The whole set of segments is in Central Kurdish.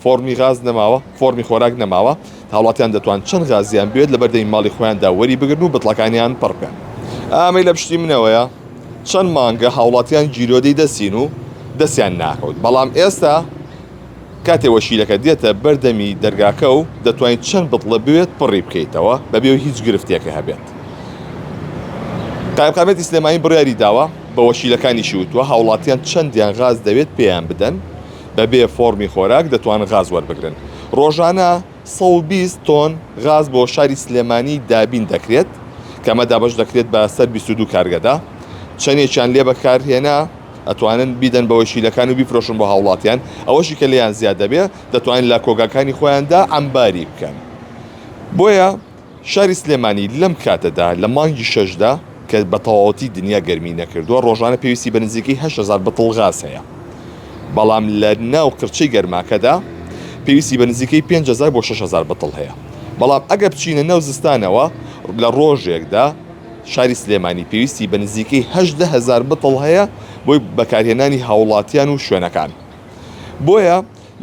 فۆڕمی غاز نەماوە، فۆڕمی خۆراک نەماوە، هاوڵاتیان دەتوان چەند غازیان بوێت لە بەردەمی ماڵی خۆیاندا وەری بگرن و بتڵەکانیان پڕ بکەن. ئامەی لە پشتی منەوەیە، چەند مانگە هاوڵاتیان گیرۆدەی دەستین و دەستیان ناکەوت، بەڵام ئێستا کاتێ وەشیلەکە دێتە بەر دەمی دەرگاکە و دەتوانیت چەند بتڵە بوێت پڕی بکەیتەوە بەبێ و هیچ گرفتێکە هەبێت. قایمقامیەتی سلێمانی بڕیاری داوە، بە وەشیلەکانیشی وتوە هاوڵاتیان چەندیان غاز دەوێت پێیان بدەن، بە بێ فۆڕمی خۆراک دەتوان غاز وەربگرن. ڕۆژانە سەد و بیست تۆن غاز بۆ شاری سلێمانی دابین دەکرێت کە ئەمە دابەش دەکرێت بە سەر بیست و دوو کارگەدا. چەندێکیان لێ بەکارهێنا ئەتوانن بیدەن بە وەکیلەکان و بیفرۆشن بۆ هاوڵاتیان. ئەوەشی کە لێیان زیاد دەبێت دەتوانن لە کۆگاکانی خۆیاندا عەمباری بکەن. بۆیە. شاری سلێمانی لەم کاتەدا لە مانگی شەشدا کە بە تەواوەتی دنیا گەرمی نەکردووە، ڕۆژانە پێویستی بە نزیکەی هەشت هەزار بتڵ غاز هەیە، بەڵام لە ناو قرچەی گەرماکەدا پێویستی بە نزیکەی پێنج هەزار بۆ شەش هەزار بتڵ هەیە، بەڵام ئەگەر بچینە ناو زستانەوە لە ڕۆژێکدا شاری سلێمانی پێویستی بە نزیکەی هەژدە هەزار بتڵ هەیە بۆی بەکارهێنانی هاوڵاتیان و شوێنەکان بۆیە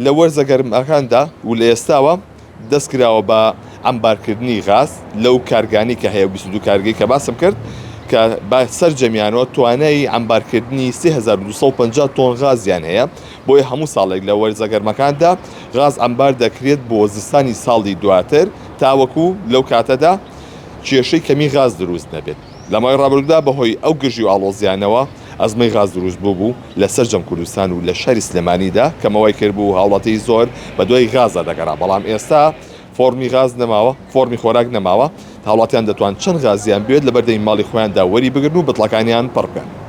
لە وەرزە گەرماکاندا و لە ئێستاوە دەست کراوە بە عەمبارکردنی غاز لەو کارگانەی کە هەیە، بیست و دوو کارگەی کە باسم کرد کە بە سەرجەمیانەوە توانای عەمبارکردنی سێ هەزار و دوو سەد و پەنجا تۆن غازیان هەیە، بۆیە هەموو ساڵێک لە وەرزە گەرمەکاندا غاز عەمبار دەکرێت بۆ زستانی ساڵی دواتر تاوەکو لەو کاتەدا کێشەی کەمی غاز دروست نەبێت. لە ماوەی ڕابردوودا بەهۆی ئەو گرژی و ئاڵۆزیانەوە ئەزمەی غاز دروست بووبوو لە سەرجەم کوردستان و لە شاری سلێمانیدا کەمە وای کردبوو هاوڵاتی زۆر بەدوای غازدا دەگەڕا بەڵام ئێستا فۆڕمی غاز نەماوە فۆڕمی خۆراک نەماوە هاوڵاتیان دەتوان چەند غازیان بوێت لە بەردەمی ماڵی خۆیاندا وەری بگرن و بتڵەکانیان پڕ بکەن.